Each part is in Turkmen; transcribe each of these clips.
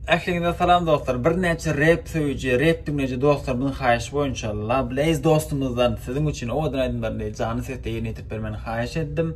Ähliňize salam dostlar birnäçe rep söýüji rep diňleýji dostlarymyň haýyşy boýunça Lablaze dostumyzdan siziň üçin owadan aýdymlaryny janly sesde ýerine ýetirip bermegini haýyş etdim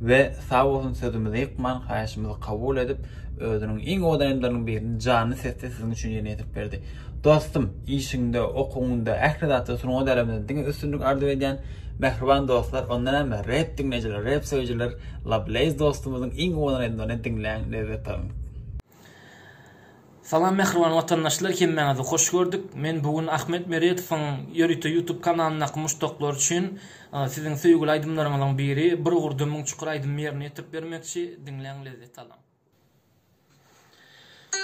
we sag bolsun sözümizi ýykman haýyşymyzy kabul edip özüniň iň owadan aýdymlarynyň birini janly sesde siziň üçin ýerine ýetirip berdi. Dostum işiňde okuwyňda ähli zatda sungat äleminde diňe üstünlik arzuw edýän mähriban dostlar onda näme rep diňleýjiler rep söýüjiler Lablaze dostumyzyň iň owadan aýdymlaryny diňläň lezzet alyň. Salam mähriban watandaşlar hemmäňizi hoş gördük. Men bu gün Ahmet Meredowyň ýörite YouTube kanalyndaky muşdaklary üçin siziň söýgüli aýdymlaryňyzyň biri Bir gurda müň çukur aýdymyny ýerine ýetirip bermekçi. Diňläň lezzet alyň.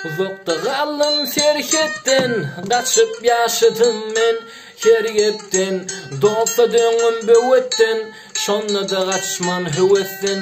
Uzakda galdym serhetden gaçyp ýaşadym men her gepden Dosta döndüm böwetden şonda-da gaçman höwesden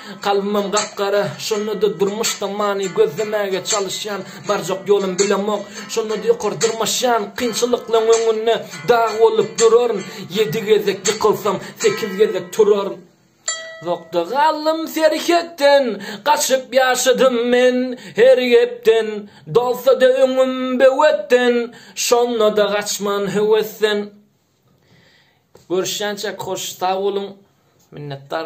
Kalbymam gap-gara, şonda-da durmuşda many gözlemäge çalyşýan, barjak ýolum bilemok, şonda-da ýokary dyrmaşýan, kynçylyklaryň öňünde dag bolup duraryn, ýedi gezek ýykylsam, sekiz gezek turaryn. Uzakda galdym serhetden, gaçyp ýaşadym men her gepden, dolsa-da öňüm böwetden, şonda-da gaçman höwesden. Görüşýänçäk hoş sag boluň. Minnetdar.